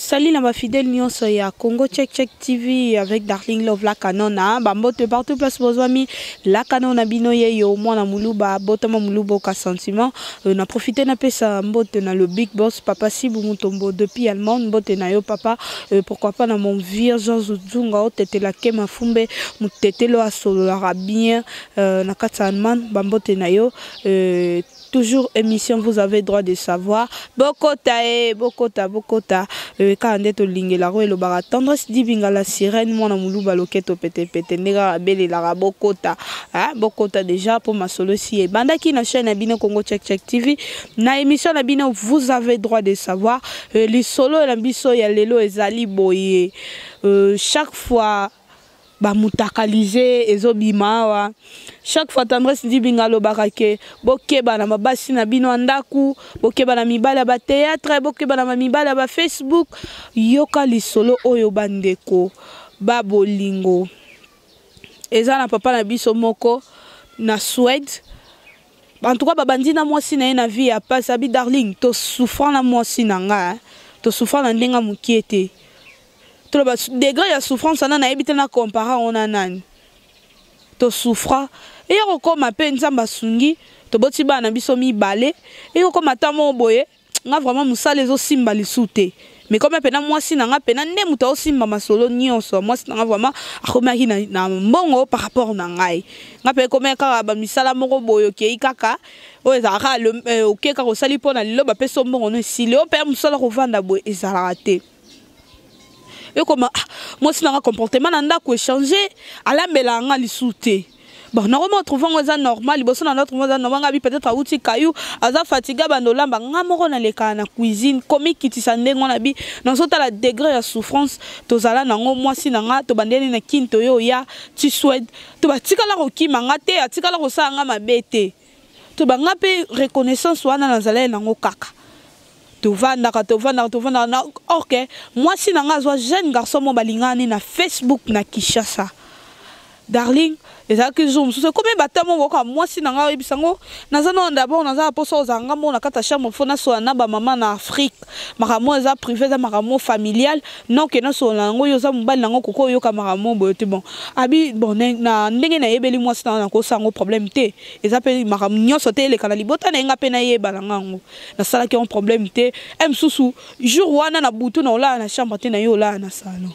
Salut na ba fidèles nyonso ya Congo Check Check TV avec Darling Love la Canona bambote partout place bozwami la Canona bino ye yo mwana muluba botama muluba oka sentiment euh, na profiter na pesa mbote na le big boss papa Sibu Mutombo depuis Allemagne mbote na yo papa euh, pourquoi pas na mon vieux Jean Zuzunga otetela ke mafumbe mutetelo asololaka bien euh, na kati ya Allemagne bambote na yo euh, toujours émission vous avez droit de savoir bokota e eh, bokota bokota eh, kaka nde tolingelaka oyo elobaka tendresse dibinga la sirène mwana moluba loketo petepete nde kaka abelelaka bokota eh, bokota déjà mpo masolo esi ebandaki na chaîne ya bino congo check check tv na émission na bino vous avez droit de savoir lisolo na biso ya lelo ezali boye chaque fois bamutakalize ezobima awa chaque fois tendresse ndibinga alobaka ke bokeba na babasi na bino ya ndako bokeba na mibali ya bateatre bokeba na bamibali ya bafacebook yoka lisolo oyo bandeko babolingo eza na papa na biso moko na swede en tout cas babandi na mwasi na ye na vie ya pasi abi darling tosouffra na mwasi na nga tosouffra na ndenge ya mokie te toloba degré ya souffrance wana nayebi te na compara yango na nani tosouffra eya kokoma mpe nzambe asungi toboti bana na biso mibale eya kokoma ata moko boye nga vraiment mosala ezosimba lisu te mais comme pena mwasi na nga pena nde moto aosimba masolo nyonso mwasi na nga vraiment akomaki na, na mbongo par rapport na ngai nga mpe ekomaki kaka bamisala moko boye okei kaka oyo ezalaka kaka eh, okei kaka osali mpo na lelo bapesi yo mbongo no esili oyo mpe mosala kovanda boye ezalaka te ekoma ah, mwasi nanga comportement na ndako echange alambelaka nga lisusu te bon nakoma otrouve yango eza normal liboso na ndatrouve eza normal ngabi peut-être awuti kayu aza fatigue abanda olamba nga moko nalekaka na cuisine komikitisa ndenge wana bi nazotala degre ya souffrance tozala nango mwasi na nga tobandeli na kin toye oya ti swede to batikala kokima nga te atikala kosala nga mabe te to ba nga mpe reconnaissance wana nazalaki nango kaka tovandaka tovandaka tovandaka na orke mwasi na ngai azwa jeune garçon mo balingani na facebook na kinshasa darling ezalaki jour mosusu ekomi bata mo boyoka mwasi na ngai oyebisa yango naza nao dabord naza na mposa ozala ngai mona kati ya chambre fo nasola na bamama na afrique makambo eza privé eza makambo familial non ke nasolola yango yo oza mobali nango koki oyoka makambo boye te bon abi bon na ndenge nayebeli mwasi nanga nakosa yango problème te eza mpe makambo nyonso te eleka na libota na ye nga mpe nayeba na nga yango nasalaki yango problème te e mosusu jour wana na butu na olala na chambre te na ye olala na salon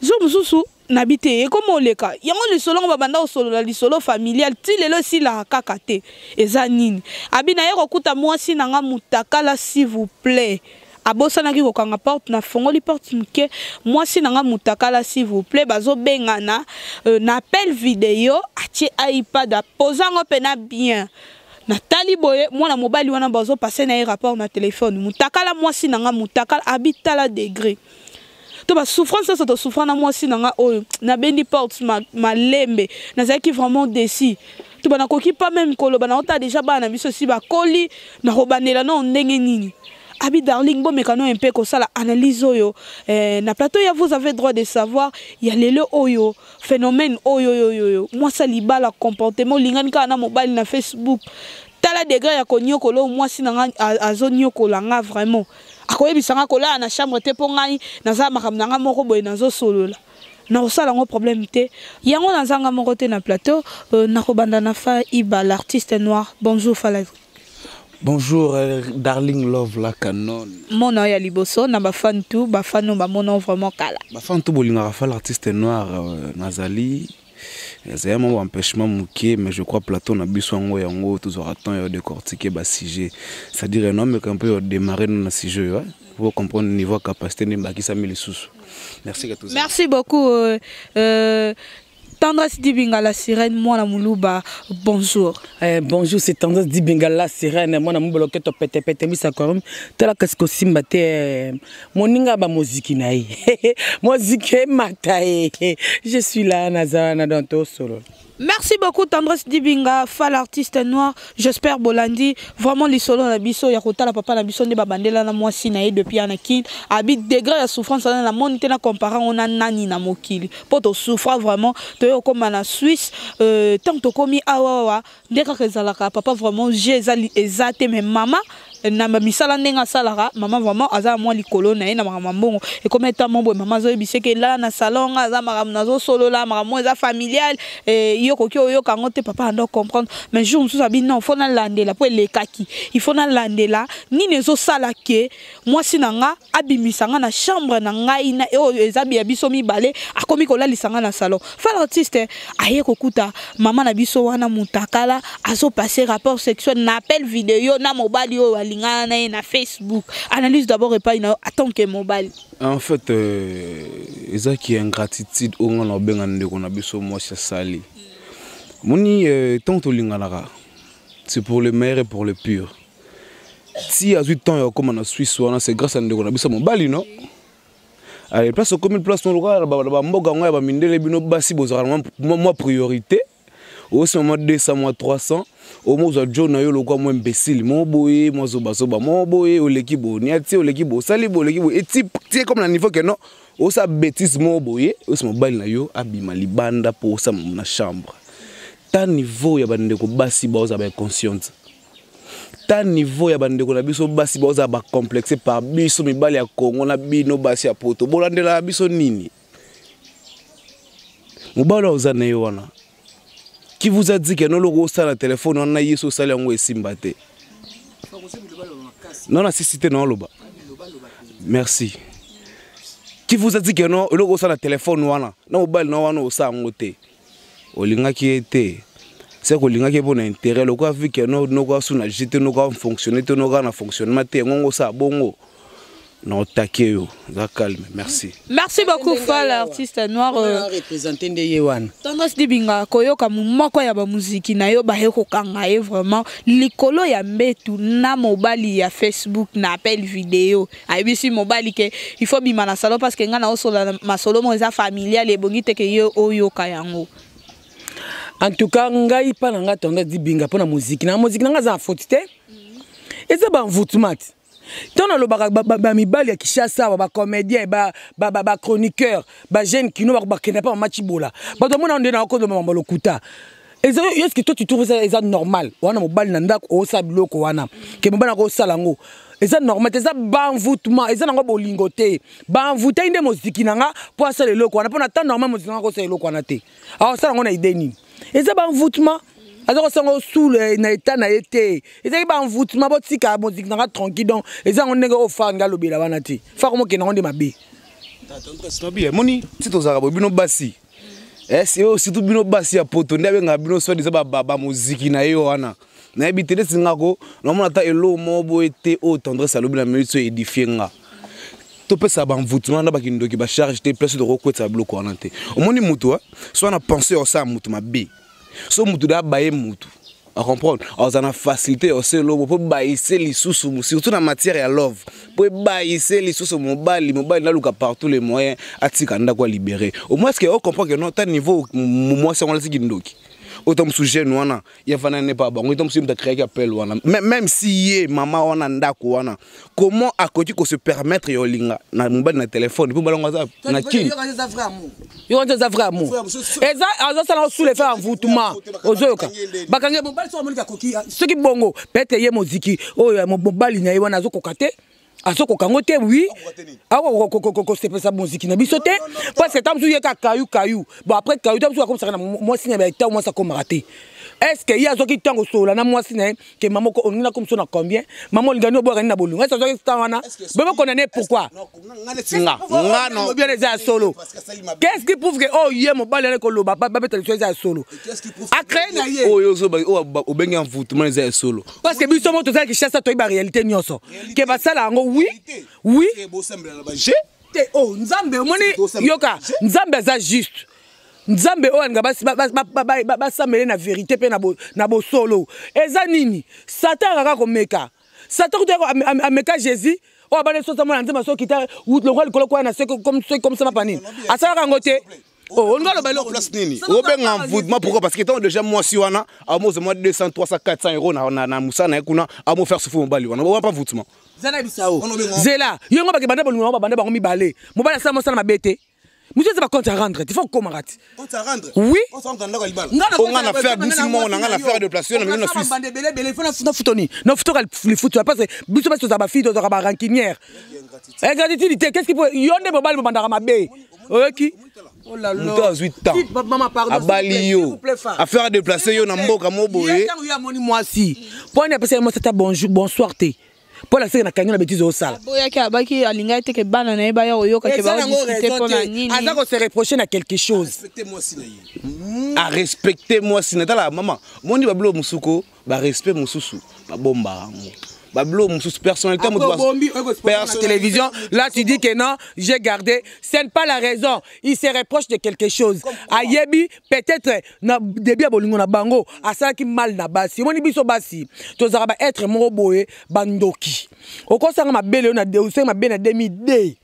jour mosusu nabi te ekoma oleka yango lisolo yango babanda kosolola lisolo familial ti lelo esilaka kaka te eza nini abi naye kokuta mwasi na nga mutakala s'il vous plaît abosanaki kokanga porte nafongoli porte moke mwasi na nga mutakala s'il vous plaît bazobengana euh, na appel video atie ipad apoza yango mpena bien natali boye mwana mobali wana bazopase na ye rapport na telefone mutakala mwasi na nga mutakala abi tala degre to ba souffrance nyonso tosouffra na mwasi na nga oyo nabendi porte malembe nazalaki vraiment desi to banakoki pa meme koloba na ota deja bana na biso si bakoli nakobandela nao ndenge nini abi darling bomeka no mpe kosala analyse oyo eh, na plateau ya vous avez droit de savoir ya lelo oyo phénomène oyo yoyoyo mwasi alibala comportement olingani kaka na mobali na facebook tala degré ya konyokola oyo mwasi na nga azonyokola nga vraiment akoyebisa nga kolala na chambre te mpo ngai naza makambo na ngai moko boye nazosolola nakosala yango problème te yango nazanga moko te na plateau euh, nakobanda na fa iba l'artiste noir bonjour fala Bonjour, euh, Darling Love la canon. Mon nom est Liboso, na ba fan tout, ba fan no ba mon nom vraiment kala. Ba fan tout bolinga fa l'artiste noir euh, Nazali ezali mwa baempêchement moke mais je crois plateau na biso yango yango tozwaka temps ya décortiquer basujet c'est-à-dire ya noameka mpe ya démarre no na sujet oyo po comprendre niveau ya capacité nde ebakisami lisusu merci merci beaucoup euh, euh, Tendresse Dibinga la sirène, moi la Moulouba, bonjour. Eh, bonjour, c'est Tendresse Dibinga la sirène, moi la Moulouba, qui est au pété pété, mais ça quand même, tu as la casque au simbate, moninga ba moziki na ye moziki emata ye je suis là naza wana donc tosolola Merci beaucoup Tendresse Dibinga, fal artiste noir. J'espère Bolandi vraiment lisolo na biso ya kotala papa na biso nde babandela na mwasi na ye depuis ana kin. Abi degré ya souffrance na la monde te na comparer on a nani na mokili. Po to souffra vraiment to yo koma na Suisse euh tant to komi awa wa nde kaka ezalaka papa vraiment je eza eza te mais mama na misala ndenge asalaka mama vraiment aza mwa likolo na ye na makambo ya mbongo ekomi eta mwa boye mama azoyebisa eke elala na salon nga aza makambo nazosolola makambo eza familiale eh, yo okoki oyoka yango te papa ando comprendre mais jour mosusu abi non fo nalandela mpo elekaki ifo nalandela nini ezosala ke mwasi na nga abimisa nga na chambre na ngai na oyo eza ya biso mibale akomi kolalisa nga na salon fal artiste aye kokuta mama na biso wana mutakala azo passer rapport sexuel na appel video na mobali oyo alingana na ye na facebook analyse d'abord epai na yo atant que mobali en fait euh, eza ki ingratitude oyo nga na obenga ndeko na biso mwasi asali moni euh, ntango tolinganaka c'est pour le meilleur et pour le pire ti azwi temps ya kokoma na swisse wana c'est grâce ya ndeko na biso mobali no ale place okomi place nolokola na bamboka yango ya bamindele bino basi bozalaka mwa priorité osima mwa 200 mwa 300 omo ozwa jo na yo lokwa mwa imbesile mo boye mwa zobazoba mo boye oleki boye niati oleki boye osali boye oleki boye eti tie comme na niveau ke non osa bétise mo boye osi mobali na yo abima libanda mpo osama na chambre ta niveau ya bandeko basi baozala ba inconsciente ta niveau ya bandeko na biso basi baozala bacomplexe par biso mibali ya kongo na bino basi ya poto bolandelaka biso nini mobali oza na ye wana ki vous a dit ke noloko osala na telefone wana na yesu osali yango esimba te non nasisi te naoloba merci ki vous a dit ke no eloko osala na telefone wana na mobali na wana osala yango te olingaki ye te seke olingaki ye mpo na intérêt lokola vike no noko asu na jus te noko afonctionne te noko na fonctionnement te yango ngo osala bongo na otake yo oza calme merci merci beaucoup fal artiste noir euh, représente nde ye wana tendance dibinga koyoka moko ya bamuziki na yo baye kokanga ye vraiment likolo ya mbetu na mobali ya facebook na appel video ayebisi mobali ke il faut bima na salon parce que ngai naosolola masolo moko eza familiale ebongi te ke ye oyoka yango en tout cas ngai mpa na ngai tendance dibinga mpo na moziki na moziki na ngai aza na foti te mhm. eza banvutumati ntango nalobaka bamibali ya kishasa awa bacomédien bachroniqueur bajeune kino bakenda mpa mama cibola bato bamona nde nakondo mama lokuta eza yo ce que toi tu trouves ça eza normal wana mobali na ndako osala biloko wana ke mobali nako osala yango eza normal te eza banvoutement eza nango bolingo te banvoutai nde moziki na nga mpo asala eloko wana mpo na temps normal moziki na nga kosala eloko wana te aosala yango na idee nini eza banvoutement aza kosala yango sule eh, na etat na ye te ezalaki banvoutement botika moziki na nga tranquille donc eza yango ndenge oyo far nde alobela wana te far omokende yango nde mabe moni ti tozalaka boye bino basi eh, sio surtout bino basi ya poto nde abengaka bino soit disant bamoziki na ye wana nayebi te neti nga ko namona ata eloo moko boye te oyo tendresse alobi na minute oyo edifie nga topesa banvutuma na bakindoki bacharge te place tokokwetisa biloko wana te omoni motu eh? so na penseur osala motu mabe so motu da abaye motu a comprendre aza na facilité ya se lobo mpo bayise lisusu surtout na matière ya love mpo ebayise lisusu mobali mobali naluka partout les moyens atika ndako ya libéré au moins que o comprendre que non ta niveau mwasi yango alati kindoki autant mosusu jeune wana ye afandani ne pa bango autant mosusu ye moto akreaki appel wana même si ye mama wana ndako wana comment akoki ko se permettre ya olinga na mobali na telefone mpo balango aza na kini yo wana eza vrai amour eza azosala ngo soule faire envoûtement ozoyoka bakangi mobali soki amoniki akoki soki bongo peut-être ye moziki oyo oh, mobali na ye wana azokoka te azokoka yango te wi akokosepesa moziki na biso te parce ta mosusu ye ka kayu kayu bon après kayu ta mosusu akomisaka na mwasi na baetan mwasi akomaka te est ce que ye azwaki ntango solola na mwasi na ye que maman moko olingi nakoma so na combien maman olingani oboyaka nini na bolingo esi azwaki temps wana bebe condamne pourquoi nga nga no obi wana eza ya solo qu'est-ce qui prouve que oyo oh, ye mobali wana ekoloba babeta liso eza ya solo acree na ye oyo oh, obengi envoûtement eza ya solo parce que biso mo tozalaki chasse toyebi ba réalité nyonso ke basala yango oui oui te o oh, nzambe omoni yoka nzambe aza juste nzambe oyo alinga basambele na verité mpe na bosolo eza nini satan akaka komeka satan kutu ameka jésus oyo abandi sosa mwana nzambe asokita lokola likolo kwaya na se comme sama panini asalaka yango te Oh, olinga loba eloko place nini obenga envoûtement pourquoi parce que ntango déjà mwasi wana amozwa mwa 200 300 400 euro na mosala na ye kuna amo faire souffrir mobali wana owa mpa envoûtement zela yo yango bakebanda bolingo yango babanda bango mibale mobali asala mosala mabe te mutu eza bacompte à rendre ti faut okomaka ti oui onga na faire bisi moko na nga na faire déplacé na mino na suisse nafutoni nafutoka lifutu ya parce que biso basi tozala bafille tozalaka barankinière ingratitude te qu'est ce qui peut yo nde mobali bobandaka mabe oyoki moto azwi tempabali yo affaire adeplace yo na mboka mo boye ntango yo amoni mwasi mpo ani apesa ye mwasi ata bonjour bonsoir te mpo alaseke na kangi na betize osala aboyaki abaki alingaki te ke bana na ye baya koyoka ke baodiskute mpo na nini aza kose reproche na quelque chose arespecte mwasi na tala mama moni babilo mosuko ba respect mususu ba bomba yango ba blo mususu personnalité mutu personne télévision là tu dis que non j'ai gardé ce n'est pas la raison il se reproche de quelque chose ayebi peut-être na début ya bolingo na bango asalaki mal na basi omoni biso basi tozalaka ba être moko boye bandoki okosanga mabele osengi mabele na 2002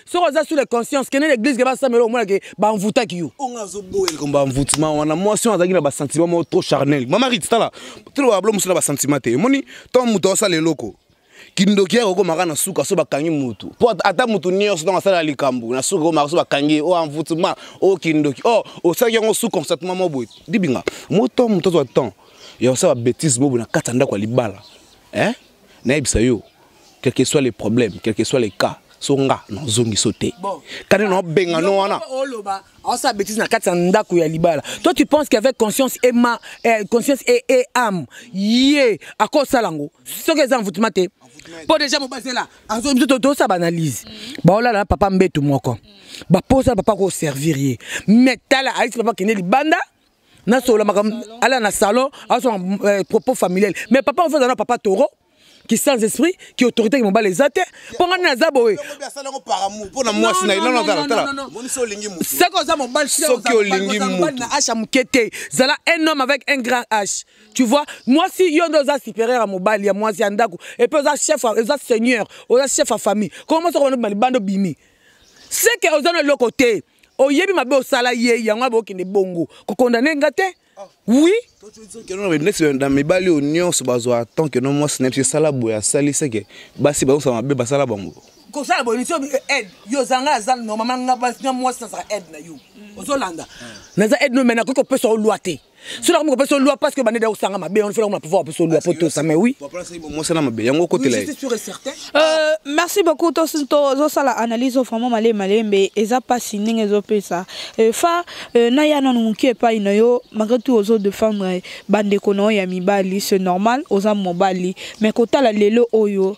soki oza sur le conscience kende na église ke basambela omona ke banvutaki yo onga azoboya likambo ya mvutima wana mwasi wana azalaki na basentiment moko trop charnel mama rit tala toloba bablo mosu na basentiment te omoni to moto aosala eloko kindoki yako komaka na suka so bakangi mutu po ata mutu nyonso ntango asala likambo na suka komaka so bakangi ye o oh, envoutema o oh, kindoki o oh, osalaki yango su constatement moko boye libinga moto moto azwa temps ya kosala babétise moko boye na kati ya ndako ya libala eh? nayebisa yo quel que soit les problèmes quel que soit les cas so nga nazongi so te kani naobenga no wana oloba aosala bétise na kati ya ndako ya libala toi tu penses qu'avec conscience et ma eh, conscience et, et âme ye akosala yango soki eza envoutema te mpo déjà mobazela biso tosa baanalyse baolala na papa mbetu moko baposa papa koservir ye mais tala ayisi papa kende libanda nasolola makambo ala na salon azwa euh, propos familial mais papa ozo aza na papa toro qui sans esprit qui autorité qui mobali eza te mpo ngai naza boye soki oza mobali soki olingi na h ya moke te zala un homme avec un grand h tu vois mwasi yo nde oza supérieur ya mobali ya mwasi ya ndako epuis oza chef oza seigneur oza chef ya famille koma mwasi okomana bima libanda obimi seke oza na eloko te oyebi mabe osala ye yango abo okende bongo kokondane nga te oui neti na mibali oyo nyonso bazwa tant que no mwasi na biso esala boye asali seke basi bazosala mabe basala bango kosala boye nisi eh, aide yo ozanga aza normalement nga mwasi nazala aide na yo ozolanda naza aide no me nakoki kopesa yo lwa te soki nakomi kopesa olwa parce que bande daosanga mabe wana soki nakomi na pouvoir kopesa olwa po tosa mais oui mosala mabe yango okotela euh, merci beaucoup tozosala analyse vraiment malembe malembe eza mpasi ndenge ezopesa euh, fa euh, naya nanu moke epai na yo malgré tout ozo défendre bandeko na yo ya mibali c'est normal oza mobali mais kotala lelo oyo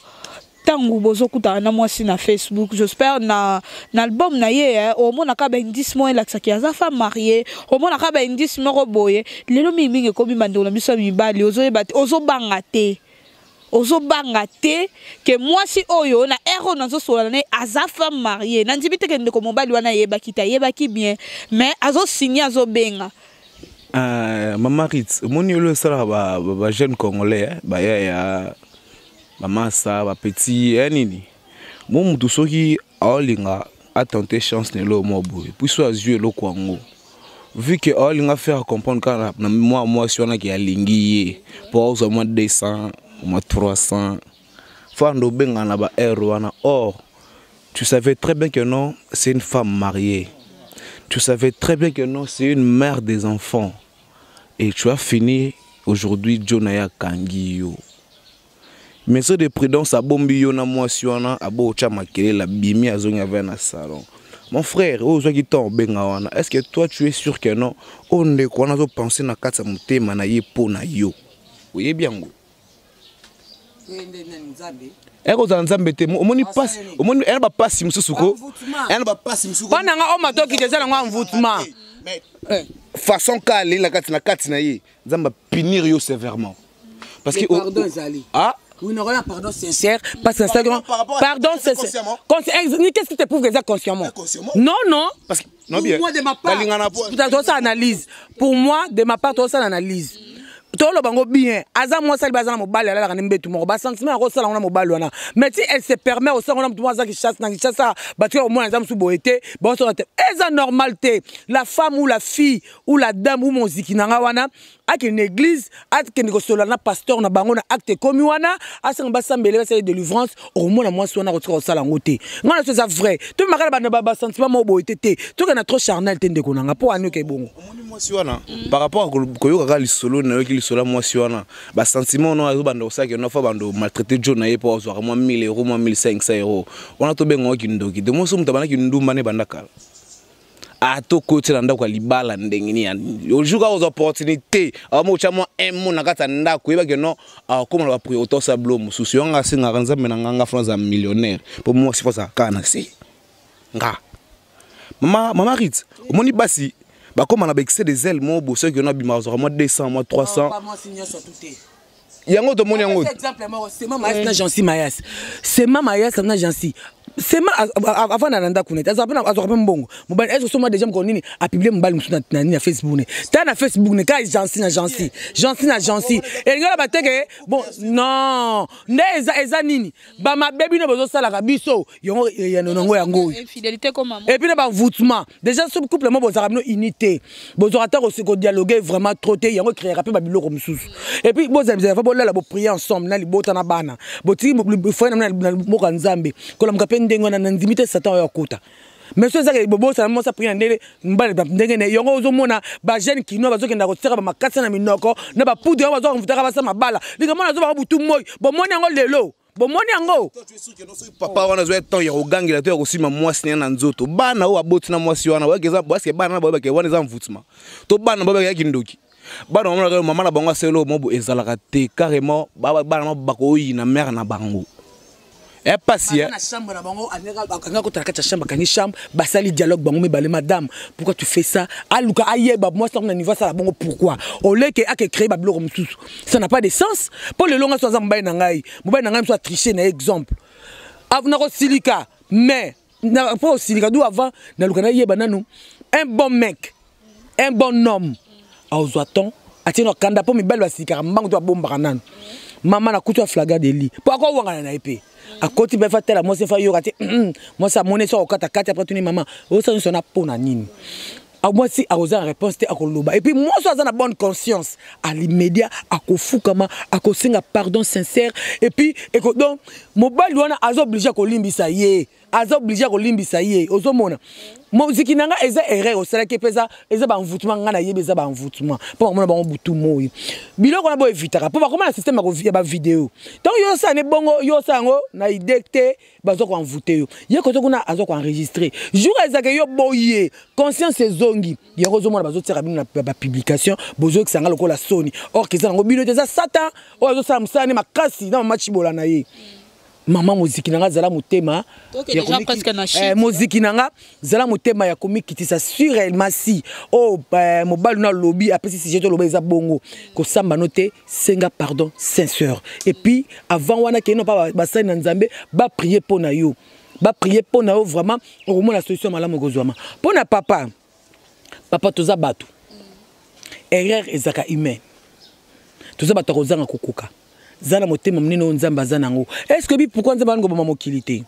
ntango bozokutana na mwasi na facebook jospeh na, na album na ye eh, omonaka baindice moko elakisaki aza femme marie omonaka baindice moko boye lelo mingimingi ekomi bandeko na biso ya mibali ozoyeba te ozobanga te ozobanga te ke mwasi oyo na ere oyo nazosolana na ye aza femme marie nandimi te ke ndeko mobali wana ayebaki te ayebaki bien mais azosigne azobenga Uh, mama Ritz, omoni yo osalaka ba, ba, ba jeune congolais eh, baya ya bamasa bapeti ya eh, nini mo motu soki aolinga atente chance na eloko mwa boye puiso azwi eloko yango vu que aolinga faire comprendre kaka na mwa mwasi wana ke alingi ye mpo aozwa mwa 200 mwa 300 fanda obengana na ba aire wana or tu savais très bien que non c'est une femme mariée tu savais très bien que non c'est une mère des enfants Et tu as fini aujourd'hui Joe na ya kangi yo. Mesure de prudence abombi yo na mwasi wana abo otya makelele abimi azongi avaya na salon. Mon frère, oyo ozwaki temps obenga wana, est-ce que toi tu es sûr que non oyo ndeko wana azopense na kati ya motema na ye mpo na yo? Oyebi yango? ekozala nzambe te omoni pasi omoni ena bapasi mosusu ko ena bapasi mosusu mpo nanga oyo matoki te eza nango envoutment eh. façon ka aleli na kati na kati na ye nzambe apinir yo sévèrement parce que pardon ezali ah Oui, non, là, pardon sincère, parce que ça, pardon sincère. Qu'est-ce qui te prouve que c'est consciemment Non, non, parce que Pour moi, de ma part, tozosala analyse. Pour moi, de ma part, tozosala analyse. toloba yango bien aza mwasi alibi aza na mobali alalaka nde mbetu moko basentiment yango osala yango na mobali wana mais ti elle se permet osala yango na motu moko aza kinshasa na kinshasa bato ya komona eza mosusu boye te baosala te eza normal te la femme ou la fille ou la dame ou moziki na ngai wana akende église akende kosolola na pasteur na bango na acte ekomi wana asanga basambele basala délivrance okomona mwasi wana akotika kosala yango te ngai na so eza vrai tomemaka na bana basentiment moko boye te te toke na trop charnel te ndeko na ngai mpo anioka ebongo mwasi wana par rapport a koyokaka lisolo nayoki lisolo ya mwasi wana basentiment wana azobanda kosaki wana fa bando maltraite jo na ye mpo azwaka mwa 1000 euro mwa 1500 euro wana tobengaka kindoki de moso moto abandaki ndumba ne banda kala ata okoti na ndako ya libala ndenge nini ojour kaka ozwa opportunité aoma otya mwa un mo na kati ya ndako oyebaki ono akoma ah, na bapriorité osa bilo mosusu yango asengaka nzambe na nga nga fona aza millionnaire mpo mwasi fo azala kaka na se nga mama mama rit omoni basi bakoma na baexcès des ailes moko bosoki ono abima azwaka mwa 200 mwa 300 yango tomoni yango exemple moko sema mayas na jansi mayas sema mayas na jansi sema avanda na ndako nete azwaka mpe mbongo mobali ese osoma deja mokolo nini apiblie mobali mosusu na nini na facebook ne ta na facebook ne kaka jansi na jansi jansi na jansi elingi oloba te ke bon non nde eza nini bamabe bino bozosalaka biso yango eyano nango yango oyo epuis na bavoutment déjà so couple mo bozalaka bino unité bozwaka ata kodialogue vraiment trop te yango ekreaka mpe babiloko mosusu epuis bozalazalava bolala boprie ensemble na libota na bana botiki foye na mboka nzambe kolamuka mpe ndenge wana na ndimi te satan oyo akota mais soki ezaka bobosana mwasi apri na ndele mbala ndenge ne yango ozomona bajeune kinois bazokenda kotiaka bamakasi na minoko na bapoudre yango bazoka komvutaka basa mabala linga mwana azobaka butu moi bomoni yango lelo bomoni yango papa wana azwa temps ya kogangela to ya kosima mwasi na ye na nzoto bana oyo baboti na mwasi wana baske bana na baoyo bake wana eza mvutuma to bana baoyo bakeyaki ndoki bana bamonaka yo mama na bango aselo mobo ezalaka te carrément bana na bakoyina mare na bango epasi eh, eh. na chambre na bango akanga kotala kati ya chambre akangi chambre basali dialogue bango mibale madame pourquoi tu fais ça aluka ayeba mwasi yango na niveau asala bongo pourquoi oleke ake créer babiloko mosusu ça n'a pas de sens mpo lelo ngai so aza mobali na ngai mobali na ngai mosusu atriche na ye exemple ah, nakosilika mais na po osilika du avant naluka nayeba nanu un bon mec un bon homme aozwa temps atie na kanda mpo mibali basilikaka mbangu to babombaka nanu mama na kutu aflaga de li mpo akowangana na ye mpe akoti mpe fa tala mwasi fa yoka te mwasi amoni so akokata kati apre tuni mama osa nyonso na mpo na nini Ah, moi si akozala na réponse te akoloba epuis mwasi aza na bonne conscience alimedia akofukama akosenga pardon sincère epuis eko donc mobali wana aza oblige akolimbisa ye aza oblige akolimbisa ye ozomona moziki na ngai eza erreur osalaki mpe eza eza baenvoutement ngai nayebi eza baenvoutement mpo bakomona bango butu moi biloko wana boevitaka mpo bakoma na systeme ya bavideo ntango yo osala ne bongo yo osala yango na idee te bazo ko envoute yo ye koto kuna azo ko enregistrer jour ezaka yo boye conscience ezongi yango ozomona bazotiaka bino na bapublication bozokisa nga lokola soni or keza yango bino te eza satan oyo azosala mosala ne makasi na mama cibola na ye mama moziki na nga zala motema eh, moziki na nga zala motema ya komikitisa surelma si oyo oh, eh, mobali na alobi apesi sije toloba eza bongo kosamba no te senga pardon sinceur et puis avant wana kei na pa basali na nzambe baprie mpo na yo baprie mpo na yo vraiment okomona solution malamu ekozwama mpo na papa papa toza bato erreur ezalaka humain toza bato ya kozanga kokoka za na motema monene oyo nzambe aza na yango est ce que bi pourkui nzambe alingoboma mokili te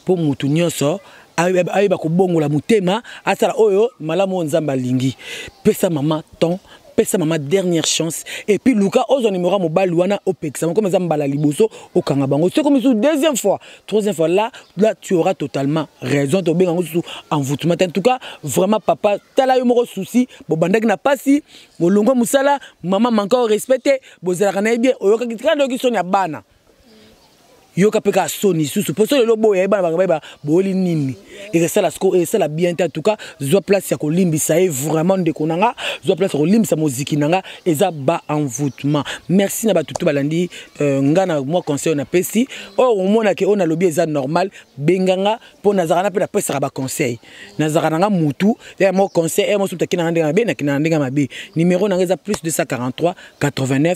mpo moto nyonso ayeba kobongola motema asala oyo malamu oyo nzambe alingi pesa mama temps pesa mama dernière chance et puis luka ozwa numéro ya mobali wana opekisa bango comme eza mbala liboso okanga bango soki mosusu deuxième fois troisième fois là là tu auras totalement raison tobenga yango susu envoûtement en tout cas vraiment papa tala yo moko souci bobandaki na pasi bolongwa mosala mama manka o respecte bozalaka na ye bien oyokaki tika ndoki soni ya bana yoka mpe kaka soni lisusu mpo so lelo boya ye bana banga bayeba boyeli nini ekosala siko esala bien te atuka zwa place ya kolimbisa ye vraiment ndeko na nga zwa place ya kolimbisa moziki na nga eza ba envoûtement merci na bato to balandi euh, nga na mwa conseil napesi oyo oh, omonake oyo oh, nalobi eza normal benga nga mpo nazalaka na mpe napesaka baconseil nazalaka na nga mutu ya mwa conseil ya mosusu takina nga ndenge mabe nakina na ndenge mabe numero na nga eza plus 243 89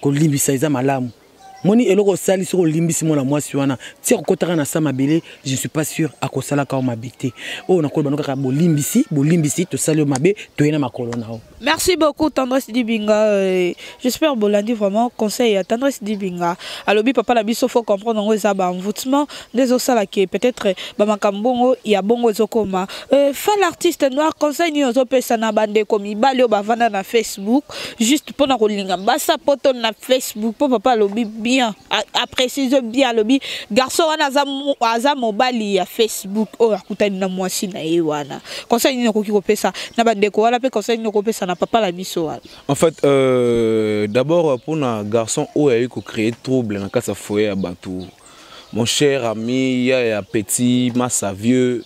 kolimbisa eza malamu moni eloko osali soki olimbisi mwana mwasi wana ti akokotaka na sa mabele je ne suis pas sûr akosalaka yo mabe te oyo nakoloba no kaka bolimbisi bolimbisi tosali yo mabe toye na makolo na yo merci beaucoup tendresse dibinga euh, j'espère bolandi vraiment conseil ya tendresse dibinga alobi papa na biso faut comprendre yango eza baenvoûtement nde ezosala ke peut-être bamakambo bongo ya bongo ezokoma euh, fa l'artiste noir conseil nini ozopesa na bandeko mibali oyo bavanda na facebook juste mpona kolinga basa poto na facebook mpo papa alobi bien aprécise bien alobi garçon wana aza mobali ya facebook oyo akutani na mwasi na ye wana conseil nini okoki kopesa na bandeko wana mpe conseil nini okopesa na papa na biso wana en fait euh, d'abord mpona garçon oyo ayei kocree trouble na kati ya foyer ya bato Mon cher ami, ya ya petit massa vieux,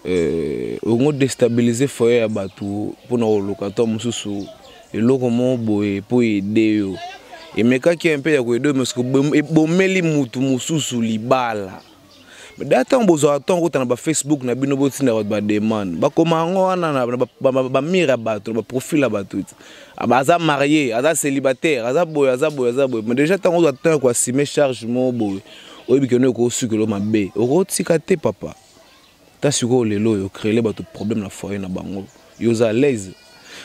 euh, ongo déstabiliser foyer ya bato mpona koluka to mosusu eloko moko boye mpo ede yo emekaki mpe ya koede mais ebomeli motu mosusu libala da ntango bozwaka ntango kota na bafacebook na bino botinda bato bademande bakoma yango wana na bamire ya bato na baprofile ya bato ti Ah, bah, aza marié aza célibataire aza boye aza boye aza boye mais déjà ntango ozwa temps ya koasime charge moko boye oyebi kende okosukelo mabe okotika te papa ta sikoyo lelo oyo créele bato problème na foyer na bango yo oza à l'aise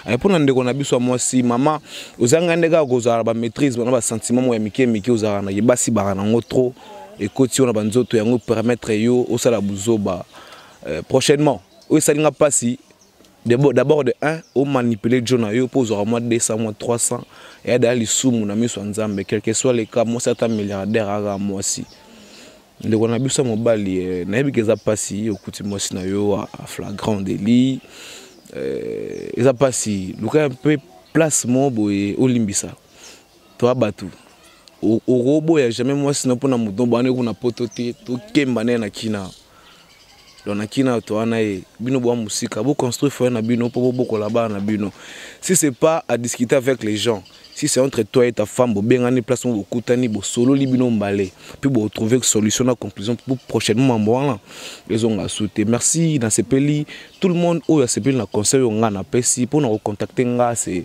eh, mpo na ndeko na biso ya mwasi mama ozanga nde kaka kozala na bamaîtrise bana basentiment moko ya mike mike ozalaka na ye basi baka nango trop ekoti yo na banzoto yango permettre yo osala buzoba eh, prochainement oyo esali nga mpasi D'abord de 1, o manipuler Joe na yo, po ozwaka mwa 200, mwa 300, eya daya lisumu na miso ya Nzambe, quel que soit le cas, mwasi ata milliardaire aka mwasi. ndeko na biso ya mobali eh, nayebi ke eza mpasi okuti mwasi na yo a flagrant deli eh, eza mpasi luka mpe place moko boye olimbisa Toi batu okoboya jamais mwasi na pona moto bana kuna poto te tokemba naye na kina donc na kina to wana ye bino boa musika bo construire foyer na bino po bobokola bana na bino si c'est pas à discuter avec les gens si c'est entre toi et ta femme bobengani place moko bokutani bosololi bino mbale puis boretrouve solution na conclusion po prochainement mambo wana ezonga su te merci nasepeli tout le monde oyo asepeli na conseil oyo ngai napesi mpo na kocontacte ngai se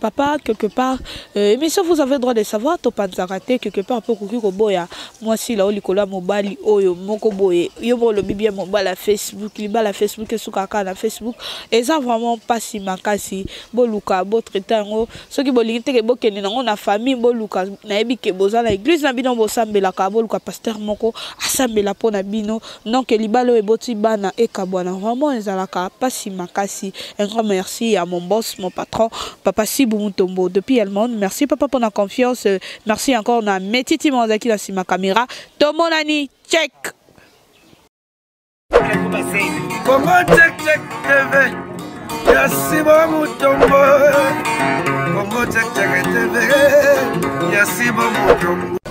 Papa, quelque part, euh, mais ça vous avez droit de savoir, to panzakate, quelque part, pour kuki koboya, moi si la oli kola mobali, oyo, moko boye, yo bo le bibia mobali à Facebook, li bala Facebook, sous kaka na Facebook, et ça vraiment pas si makasi, bo luka, bo traité ngo, ceux qui bo lingite ke bo kende na ngo na famille, bo luka, na ebi ke boza na église na bino, bo sambela ka, bo luka pasteur moko, asambela po na bino, Donc libala oyo eboti bana ekabwana vraiment ezalaka pasi makasi. Un grand merci à mon boss, mon patron, papa Sibu Mutombo depuis Allemagne. Merci papa pour la confiance. Merci encore na Metiti Mwanzaki na sima camera. Tomonani check. Congo check check TV. Ya Sibu Mutombo. Congo check check TV. Ya Sibu Mutombo.